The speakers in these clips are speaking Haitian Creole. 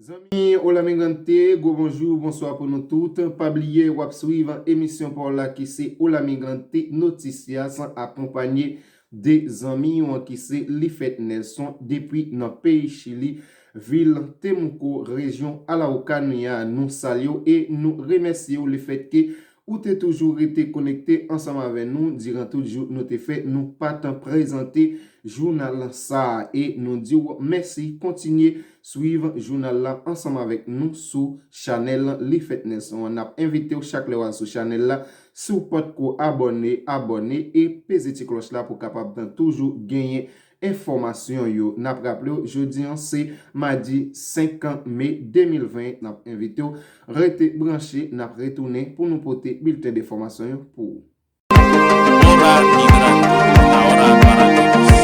Zanmi Olamigrante, gwo bonjou, bonswa pou nou tout. Pa bliye w ap swiv emisyon pa w la ki se Olamigrante Noticias akonpanye de zanmi w ki se Lifèt Nelson depi nan peyi Chili, vil Temuco, rejyon Araucanía. Nou salye w e nou remèsye w lefètke Ou te toujou rete konekte ansanm avè nou diran tout jou nou te fè nou pa tan prezante jounal sa a e nou di w mèsi kontinye swiv jounal la ansanm avèk nou sou chanèl Li Fèt Nelson an nap envite w chak lè w al sou chanèl la si w potko abòne abòne e peze ti klòch la pou kapab toujou genyen enfòmasyon yo. N ap raple w jodi an se madi 5 me 2020, n ap envite w rete branche, n ap retounen pou nou pote bilten de fòmasyon yo pou ou. Hora migrando, la hora para todos.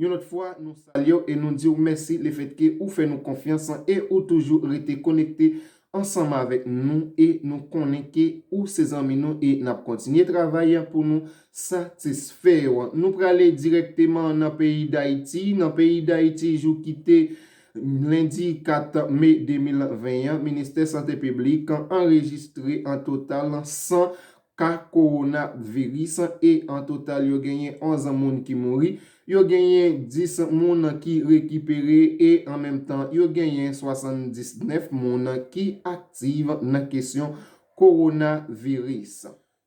Yon lòt fwa nou salyew e nou diw mèsi lefètke ou fè nou konfyans e ou toujou rete konekte ansanm avèk nou e nou konnen ke ou se zanmi nou e nap kontinye travay pou nou satisfèw. Nou prale dirèkteman nan peyi Dayiti, nan peyi Dayiti jou kite lendi 4 me 2020 an, Ministè Sante Piblik anrejistre an total 100 ka kowona viris e an total yo genyen 11 moun ki mouri, yo genyen 10 moun ki rekipere e an menm tan yo genyen 79 moun ki aktiv nan kesyon kowona viris.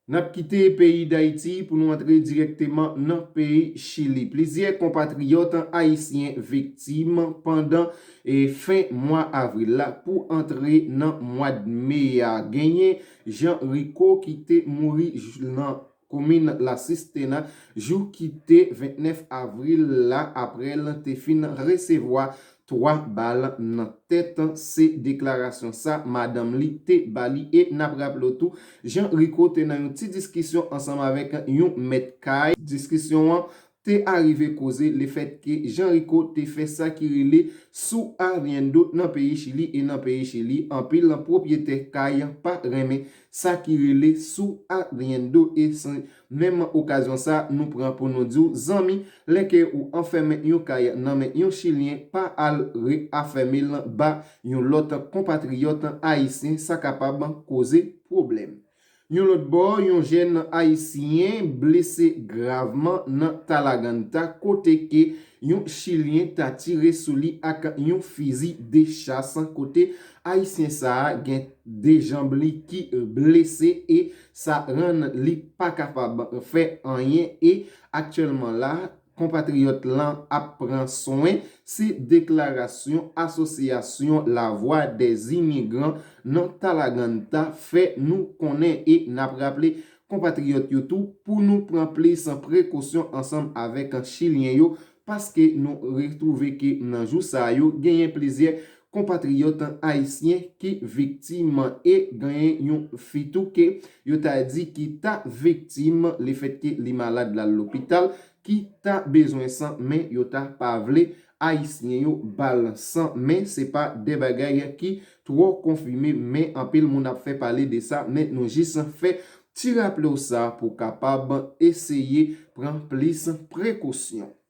Nap kite peyi Dayiti pou nou antre dirèkteman nan peyi Chili. Plizyè konpatriyòt ayisyen viktim pandan fen mwa avril la pou antre nan mwad me a. Genyen Jean Rico ki te mouri nan komin La Cistena jou ki te 29 avril la aprè l te fin resevwa 3 bal nan tèt, se deklarasyon sa madanm li te ba li e n ap raple w tou Jean Rico te nan yon ti diskisyon ansanm avèk yon mèt kay, diskisyon an te arive koze lefètke Jean Rico te fè sa ki rele su arriendo nan peyi Chili e nan peyi Chili anpil pwopyetè kay pa renmen sa ki rele su arriendo e se menm okazyon sa nou pran pou nou di w zanmi lè ke ou anfèmen yon kay nan men yon chilyen pa al reafème l ba yon lòt konpatriyòt ayisyen sa kapab koze pwoblèm. Yon lòt bò, yon jèn ayisyen blese gravman nan Talaganta kote ke yon chilyen ta tire sou li ak yon fizi de chas kote ayisyen sa a gen 2 janb li ki blese e sa rann li pa kapab fè anyen e aktyèlman la Konpatriyòt lan ap pran swen, se deklarasyon Asosyasyon Lavwa dè Imigran nan Talaganta fè nou konnen e n ap raple konpatriyòt yo tou pou nou pran plis prekosyon ansanm avèk Chilyen yo paske nou retwouve ke nan jou sa yo genyen plizyè konpatriyòt ayisyen ki viktim e genyen yon fi tou ke yo ta di ki ta viktim le fèt ke li malad lal lopital ki ta bezwen san men yo ta pa vle ayisyen yo bal san men se pa de bagay ki twò konfime men anpil moun ap fè pale de sa men nou jis fè ti raple w sa pou kapab eseye pran plis prekosyon.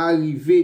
Arive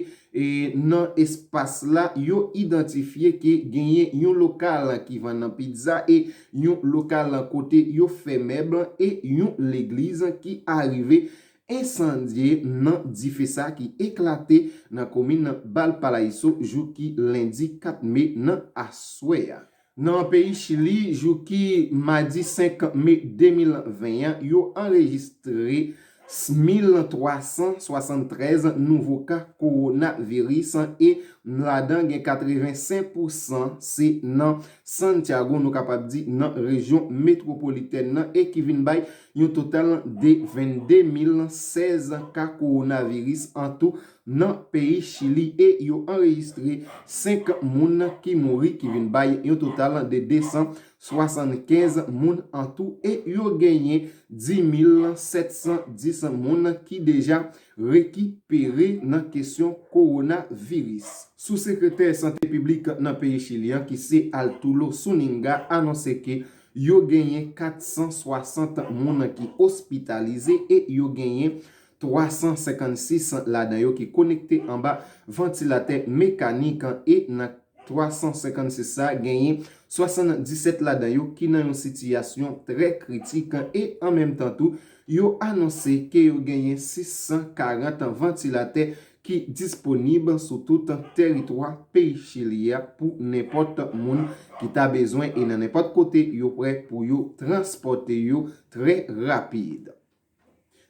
nan espas la, yo idantifye ke genyen yon lokal ki vann pizza e yon lokal kote yo fè mèb e yon legliz ki arive ensandye nan dife sa ki eklate nan komin Balpalaiso jou ki lendi 4 me nan aswè a. Nan peyi Chili, jou ki madi 5 me 2020 an, yo anrejistre 1,373 nouvo ka kowonaviris e ladan gen 85 pou san se nan Santiago, nou kapab di nan rejyon metwopolitèn nan e ki vin bay yon total de 22 016 ka kowonaviris an tou nan peyi Chili e yo anrejistre 5 moun ki mouri ki vin bay yon total de 275 moun an tou e yo genyen 10,710 moun ki deja rekipere nan kesyon kowonaviris. Sou-sekretè sante piblik nan peyi Chili an ki se Altulo Zuñiga anonse ke yo genyen 460 moun ki ospitalize e yo genyen 356 ladan yo ki konekte anba vantilatè mekanik e nan 356 sa genyen 77 ladan yo ki nan yon sitiyasyon trè kritik e an menm tan tou yo anonse ke yo genyen 640 vantilatè ki disponib sou tout teritwa peyi Chili a pou nenpòt moun ki ta bezwen e nan nenpòt kote yo prè pou yo transpòte yo trè rapid.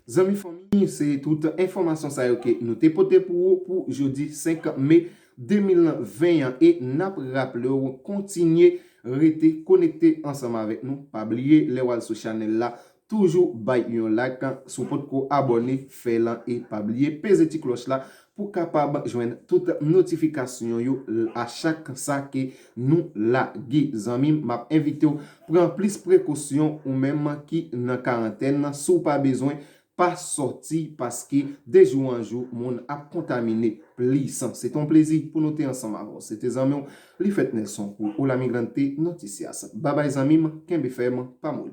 Zanmi fanmi se tout enfòmasyon sa yo ke nou te pote pou ou pou jodi 5 me 2020 an e nap raple w kontinye rete konekte ansanm avèk nou pa bliye lè wal sou chanèl la toujou bay yon lak si w potko abòne fè l e pa bliye peze ti klòch la Pou kapab jwenn tout notifikasyon yo a chak sa ke nou lage zanmim map envitew pran plis prekosyon ou menm ki nan karantèn nan si w pa bezwen pa sòti paske de jou an jou moun ap kontamine plis se te yon plezi pou nou te ansanm avèw se te zanmi w Lifèt Nelson pou Olamigrante Noticias babay zanmim kenbe fèm pa moli.